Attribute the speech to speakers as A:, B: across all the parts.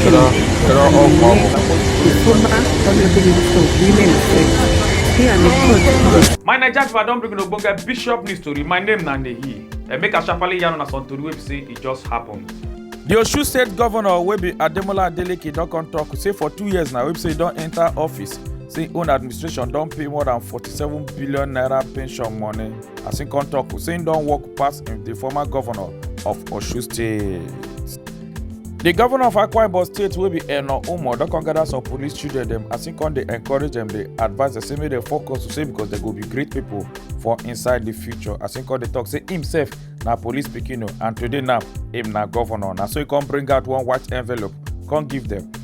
A: Kira
B: kira opo. My Naija people, I don bring una ogbonge bishop news tori. My name na Nehi. And make I sharply yarn una some tori wey be say e just happen. The Osun State Governor wey be Ademola Adeleke don come talk say for two years now wey be say e don enter office say im own administration don pay more than forty-seven billion naira pension money as im come talk say im don work pass im the former governor of Osun State. di govnor of akwa ibom state wey be eno umo don come gather some police children dem as im come dey encourage dem dey advise dem say make dem focus to say because dem go be great pipo for inside di future as im come dey tok say imsef na police pikin o and today now im na govnor na so e come bring out one white envelope come give dem.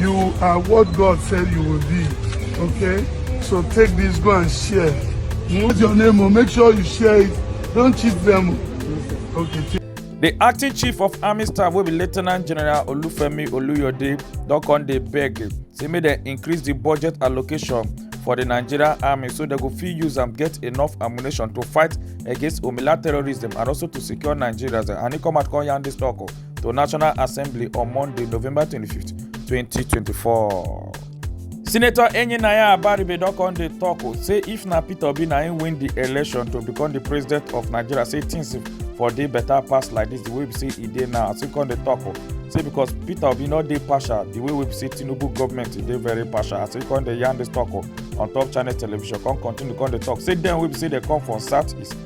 C: You are what God said you will be. Okay? So take this, go and share. What's your name? Oh? Make sure you share it. Don't cheat them. Oh. Okay. The acting
B: chief of army staff will be Lieutenant General Olufemi Oluyode don come dey beg say make dem increase the budget allocation for the Nigerian army so they go fit use am get enough ammunition to fight against Omila terrorism and also to secure Nigerians. And he come out come yarn this talk. Oh. to National Assembly on Monday, November 25th, 2024. Senator Enyinaya Abaribe don come dey talk o say if na Peter Obi na him win the election to become the president of Nigeria say things for dey better pass like this the way we say e dey now as he come dey talk o say because Peter Obi no dey partial the way we say Tinubu government e dey very partial as he come dey yarn this talk o on top channel television come continue come dey talk say dem wey be say dey come from south east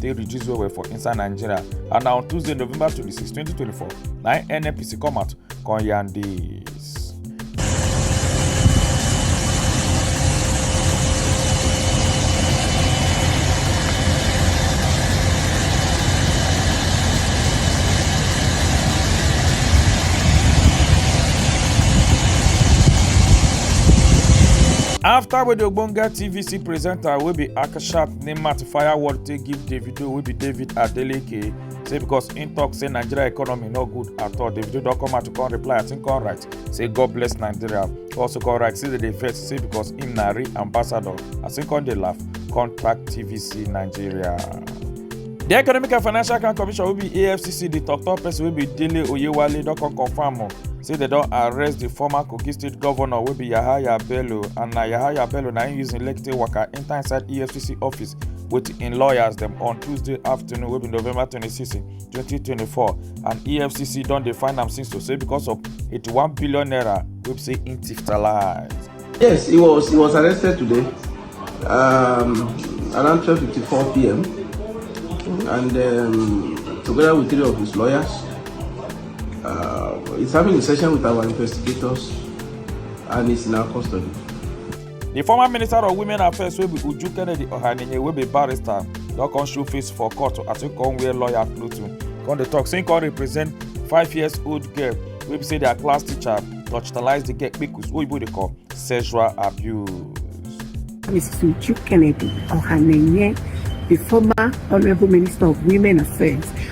B: take reduce well well for inside nigeria and na on tuesday november 26 2024 na nnpc come out come yarn dis. afta wey di ogbonge tvc presenter wey be akasha Nemat fire word take give Davido wey be David Adeleke say because im talk say Nigeria economy no good at all. Davido don come out to come reply as im come write say God bless Nigeria. He also come write say dem dey vex say because im na real ambassador as im come dey laugh contact TVC Nigeria. di economic and financial crime commission wey be afcc di tok-tok person wey be dele oyewale don come confam o say dem don arrest di former kogi state govnor wey be yahaya bello and na yahaya bello na im use im lekki take waka enter inside efcc office with im lawyers dem on tuesday afternoon wey be november 26 2024 and efcc don dey find am since to say because of 81 billion naira wey be say im thief talize. yes he
D: was he was arrested today um, around 12:54 pm and um, together with three of his lawyers uh, he's having a session with our investigators and he's in our custody. di
B: former minister of women affairs wey be uju kennedy ohanenye wey be barrister don come show face for court as e come wear lawyer cloth come dey tok say e come represent five years old girl wey be say dia class teacher torchitalize di girl kpekus wey oyibo dey call sexual abuse. Mrs. Uju Kennedy Ohanenye, the former
A: Honorable Minister of Women Affairs,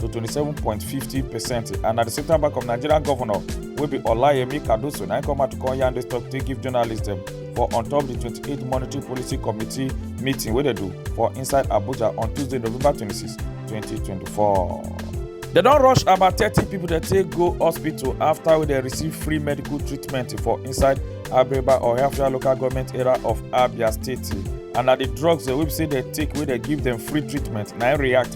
B: to 27.50 percent and na the central bank of nigeria governor wey be olayemi cardoso na im come out to come yarn dis tok take give journalists dem for on top di 28 monetary policy committee meeting wey dem do for inside abuja on tuesday november 26 2024. dem don rush about thirty pipo dem take go hospital afta wey dem receive free medical treatment for inside abreba ohaofia local goment area of abia state and na di drugs dem wey be say dem take wey dem give dem free treatment na im react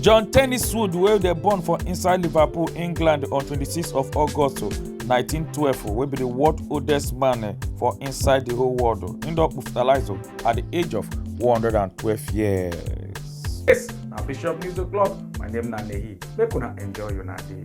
B: john tenniswood wey dey born for inside liverpool england on 26 of august 1912 wey be di world oldest man for inside di whole world im don hospitalise at di age of 112 years. Yes,
E: na Bishop News O'Clock. My name na Nehi. Make una enjoy una day.